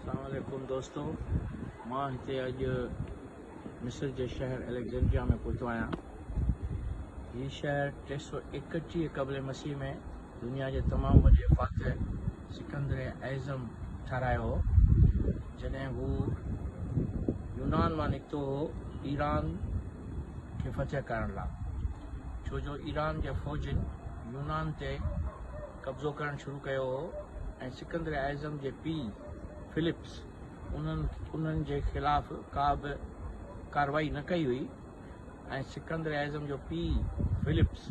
السلام عليڪم دوستو مان هتي اڄ مصر جي شهر اليگزينڊريا ۾ پهتو آهيان هي شهر ٽي سو ايڪٽيهه قبل مسيح ۾ دنيا جي تمام وڏي فاتح سڪندر اعظم ٺهرايو هو جڏهن هو يونان مان نڪتو هو ايران کي فتح ڪرڻ لاء ڇو جو ايران جي فوجين يونان تي قبضو ڪرڻ شروع ڪيو هو ۽ سڪندر اعظم جي پيء فلپس انهن جي خلاف ڪا به ڪارروائي نه ڪئي هئي ۽ سڪندر اعظم جو پيء فلپس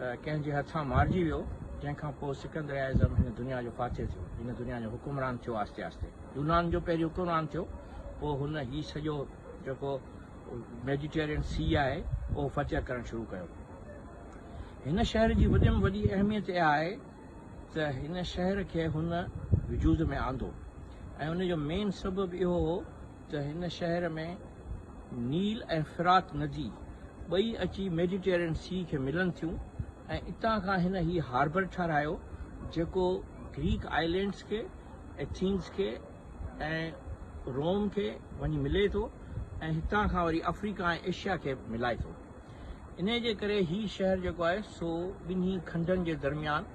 ڪنهن جي هٿان مارجي ويو جنهن کان پوء سڪندر اعظم هن دنيا جو فاتح ٿيو هن دنيا جو حڪمران ٿيو آهستي آهستي يونان جو پهرين حڪمران ٿيو پوء هن هي سڄو جيڪو ميڊيٽيرين سي آهي اهو فتح ڪرڻ شروع ڪيو هن شهر جي وڏي ۾ وڏي اهميت اها آهي ته هن شهر کي هن وجود ۾ آندو ۽ ان جو مين سبب اهو هو ته هن شهر ۾ نيل ۽ فرات ندي ٻئي اچي ميڊيٽيرين سي کي ملن ٿيون ۽ اتان کان هن هي هاربر ٺهرايو جيڪو گريڪ آئلينڊس کي ايٿينز کي ۽ روم کي وڃي ملي ٿو ۽ هتان کان وري افريڪا ۽ ايشيا کي ملائي ٿو. انهيء جي ڪري هي شهر جيڪو آهي سو ٻنهي کنڊن جي درميان،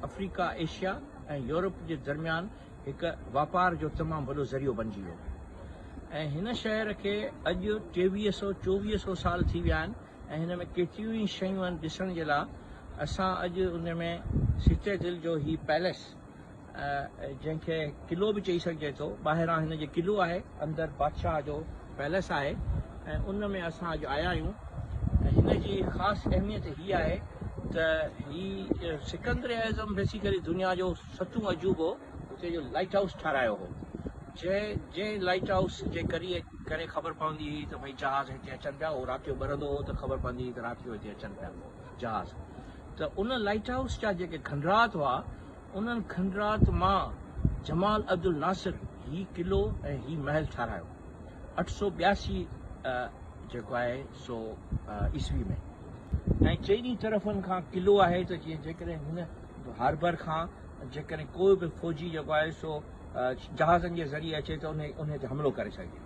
افريڪا، ايشيا ۽ يورپ جي درميان هڪ واپار جو تمام وڏو ذريعو بنجي ويو ۽ هن شهر کي اڄ ٽيويهه سئو چوويهه سئو سال ٿي ويا آهن ۽ هن ۾ ڪيتريون ئي شيون آهن ڏسڻ جي لاء اسان اڄ ان ۾ سٽيڊل جو هي پئليس جنهن کي قلعو به چئي سگهجي ٿو. ٻاهران هن جي قلعو آهي، اندر بادشاهه جو پئلس آهي ۽ ان ۾ اسان اڄ آيا آهيون. هن جي خاص اهميت هي آهي ته هي سڪندر اعظم بيسيڪلي دنيا جو ستون عجوبو هتي جو لائيٽ هائوس ٺهرايو هو. جنهن جنهن لائيٽ هائوس جي ڪري ڪري خبر پوندي هئي ته ڀئي جهاز هتي اچن پيا، اهو رات جو ٻرندو هو ته خبر پوندي هئي ته رات جو هتي اچن پيا جهاز. ته ان لائيٽ هائوس جا جيڪي کنڊرات هئا، انهن کنڊرات مان جمال عبدالناصر هي قلعو ۽ هي محل ٺاهرايو اٺ سؤ ٻياسي جيڪو آهي سو عيسوي ۾ ۽ چئني طرفن کان قلعو آهي ته جيئن جيڪڏهن هن هاربر کان جيڪڏهن ڪو به فوجي جيڪو آهي سو جهازن جي ذريعي اچي ته ان انهي تي حملو ڪري سگهجي.